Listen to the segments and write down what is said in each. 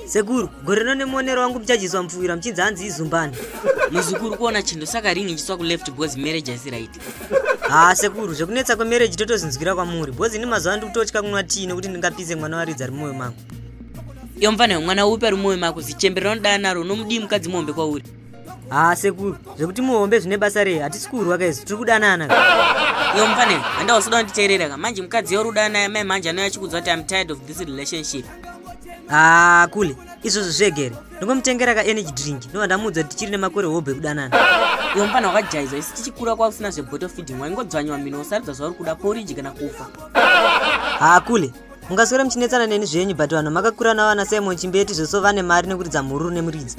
sekuru gore rino nemuonero wangu muchajizwa mupfuwira muchinzi hanzi izumbani muzukuru kuona chindo saka ringi ichiswa kuleft because marriage asi right haa sekuru zvekunetsa kwemarriage totozinzwira kwamuri because ini mazuva ndi kutotya kunwa tii nekuti ndingapise mwana waridza ari mumwoyo mangu iyo mvana yomwana upi ari mumwoyo mako zichembe rinodana naro unomudii mukadzi muhombe kwauri haa sekuru zvekuti muhombe zvine basa rei hatisi kurwa kaizi tiri kudanana yo mufane handausoda kunditeerera ka manje mukadzi yoruda naye mai manje anoya achikudzwa kuti im tired of this relationship haa kule izvozvo zvegere ndongomutengera ka energy drink ndova ndamuudza kuti tichiri nemakore hobho ekudanana yo mufane wakajaizwa isi tichikura kwakusina zveboto feeding waingodzwanyiwa mino usarudza zvauri kuda poriji kana kufa haa kule mungaswera muchinetsana neni zvenyu but vanhu makakura navo vana simon chimbeti zveso vane mari nekuridza mhururu nemuridzi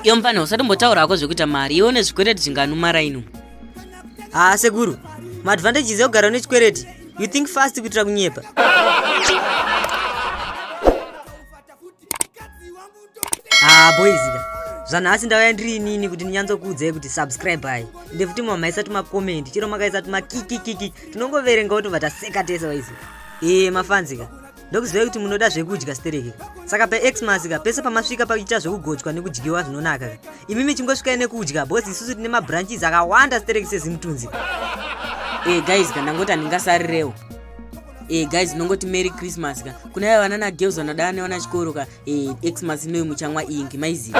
iyo mfana usati mbotaura hako zvekuita mari iwe une zvikwereti zvinganumara ino haa sekuru maadvantages ekugara une chikwereti you think fast kuitira kunyepa haa ah, boizika zvanhasi ndauya ndiri inini kuti ndinyatsokuudzai kuti subscribe hai ende futi mama maisa tumakomendi chero makaisa tumakikikiki tinongoverenga otobva taseka tese waizika ee eh, mafanzika ndokuzivai kuti munoda zvekudya stereke saka paxmas ka pese pamasvika pakuita zvekugochwa nekudyiwa zvinonaka ka imi michingosvikai nekudya bos isusu tine mabranches akawanda stereke sezimutunzi ee eh, guys ka ndangoti handingasarirewo Eh, guys ndongoti merry christmas ka kuna ya vana nagirls vanoda ane vana chikoro ka eh, xmas inoyi muchanwa ingi maiziva